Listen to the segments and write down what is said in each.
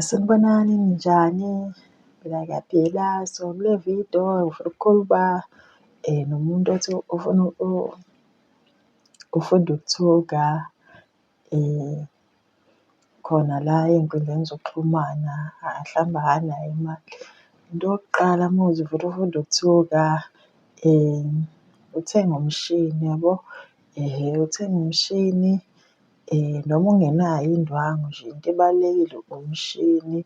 Sanibonani, ninjani? Ngiphila ngiyaphila. So, kule vidiyo ngifuna ukukhuluma nomuntu othi ufuna ufunda ukuthunga khona la ey'nkundleni zokuxhumana, mhlawumbe akanayo imali. Into yokuqala uma uthi ufuna ukufunda ukuthunga, uthenge umshini yabo, uthenge umshini Noma ungenayo indwangu nje into ebalulekile umshini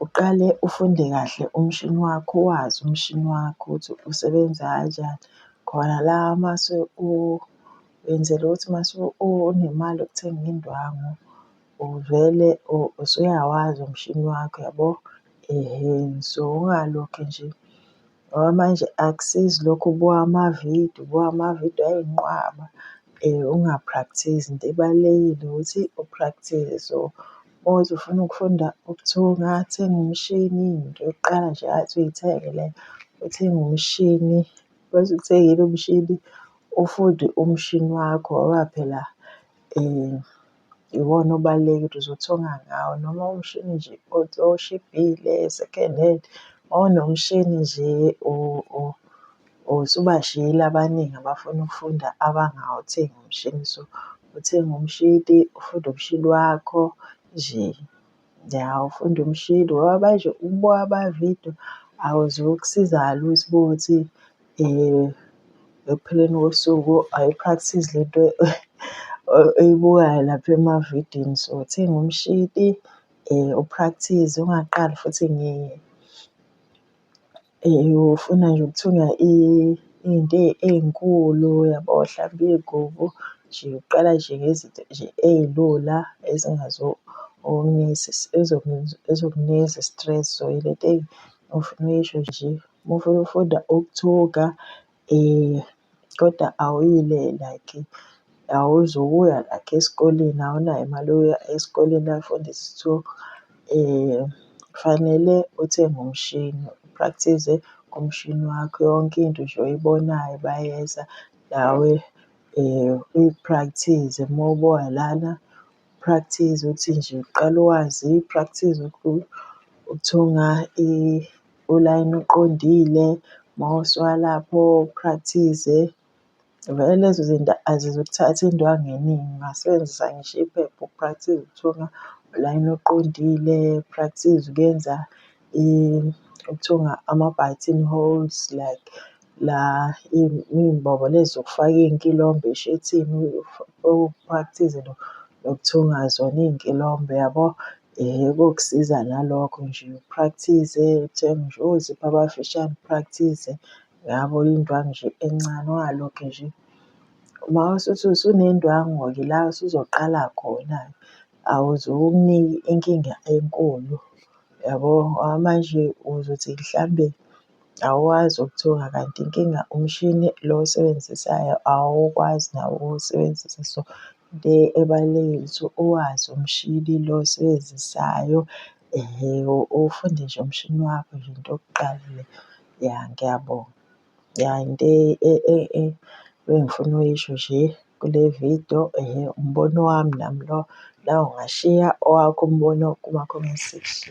uqale ufunde kahle umshini wakho wazi umshini wakho ukuthi usebenza kanjani. Khona la mase wenzela ukuthi mase unemali yokuthenga indwangu uvele usuyawazi umshini wakho yabo. So ungalokhe nje Ngoba manje akusizi lokhu ubuka amavidiyo ubuka amavidiyo ayi nqwaba unga-practise-i into ebalulekile ukuthi u-practise-e. So uma kuwukuthi ufuna ukufunda ukuthunga thenga umshini into yokuqala nje athi uyithenge leyo uthenge umshini. Uma usuwuthengile umshini ufunde umshini wakho ngoba phela . iwona obalulekile ukuthi uzothunga ngawo noma umshini nje oshibhile second hand or nomshini nje usubashiyile abaningi abafuna ukufunda abangawuthengi umshini so uthenga umshini ufunde umshini wakho nje. Ya ufunda umshini ngoba manje ukubuka amavidiyo akuzukusiza lutho uma kuwukuthi ekupheleni kosuku ayi-practice le nto oyibukayo lapha emavidiyweni. So, thenga umshini u-practise ungaqali futhi . Ufuna nje ukuthunywa iy'nto ey'nkulu yabo, hlampe iy'gubu nje uqala nje ngezinto nje ey'lula ezokunikeza i-stress so ilento ofuna uyisho nje. Uma ufuna ukufunda ukuthuka Kodwa awuyile like awuzukuya like esikoleni awunayo imali yokuya esikoleni uyofundisa so kufanele uthenge umshini u-practice-ze ngomshini wakho yonke into nje oyibonayo bayeza nawe uyi-practice-ze uma ubuya lana. Practice ukuthi nje uqale wazi, practice ukuthunga ulayini oqondile, mawuse walapho practice. Vele lezo zinto azizukuthatha indwangu eningi ungasebenzisa ngisho iphepha uku-practice ukuthunga ulayini oqondile, practice ukuyenza. okuthiwa ama-button holes like la iy'mbobo lezi zokufaka iy'nkilombe eshethini okuphakathize nokuthenga zona iy'nkilombe yabo. Kokusiza nalokho nje uphrakthize uthenge nje ozipha abafishane uphrakthize yabo indwangu nje encane ungalokhe nje. Uma usuthi usunendwangu-ke la usuzoqala khona-ke awuze inkinga enkulu. Yabo manje uzothi mhlambe awazi ukuthuka kanti inkinga umshini lo owusebenzisayo awukwazi nawo ukuwusebenzisa. So, into ebalulekile ukuthi uwazi umshini lo owusebenzisayo uwufunde nje umshini wakho nje into yokuqala le. Ya ngiyabonga, ya into ebengifuna ukuyisho nje kule vidiyo umbono wami nami lowo. Nawe ungashiya owakho umbono kuma-comment section.